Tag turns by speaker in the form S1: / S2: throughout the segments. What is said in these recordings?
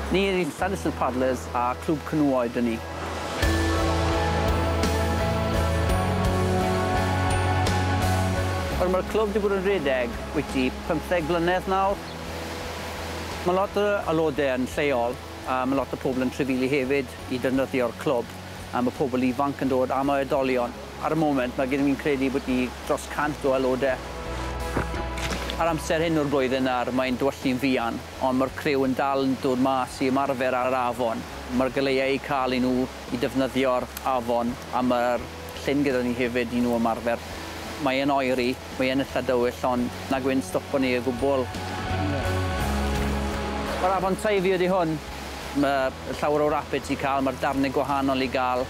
S1: Ni yw Llanilltud Paddlers a Clwb Canŵau dŷn ni. Wel, mae'r clwb wedi bod yn rhedeg wyty 15 blynedd nawr. Mae lot o aelodau yn lleol a mae lot o pobl yn trefili hefyd i ddefnyddio'r clwb. a ma' pobl ifanc yn dod, a ma' oedolion. Ar y moment, ma' gyda fi'n credu bod ni dros 100 o aelode. A'r amser hyn o'r flwyddyn nawr, mae'n dywylli'n fuan, ond ma'r criw yn dal yn dod mas i ymarfer ar yr afon. Ma'r goleuau eu cael i nhw i defnyddio'r afon, a ma'r llyn gyda ni hefyd i nhw ymarfer. Mae yn oeri, mae yn itha dywyll, ond nag yw'n stopo ni o gwbl. Ma'r afon Teifi ydi hwn. Mae llawer o rapids i cael, mae'r darnau gwahanol i gael.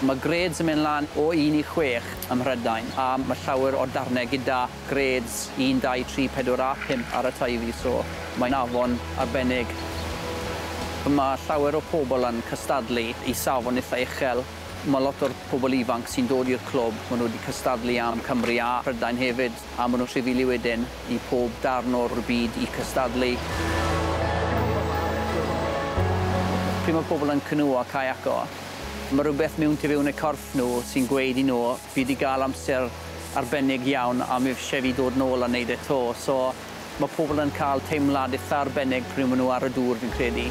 S1: Mae grêds yn mynd lan o un i chwech ym Mhrydain, a mae llawer o darnau gyda grêds un, dau, tri, pedwar a phump ar y Teifi, so mae'n afon arbennig. Mae llawer o pobl yn cystadlu i safon eitha' uchel. Mae lot o'r pobl ifanc sy'n dod i'r clwb, maen nhw wedi cystadlu am Cymru a Prydain hefyd. A maen nhw'n rhyfili wedyn i pob darn o'r byd i cystadlu. Pryd mae pobl yn cynwio a caiaco, mae rhywbeth mewn tu fewn eu corff nhw sy'n gweud i nhw, fi 'di gael amser arbennig iawn a mi eisiau fi ddod nôl a wneud e 'to. So, Mae pobl yn cael teimlad eitha arbennig pryd maen nhw ar y dŵr, fi'n credu.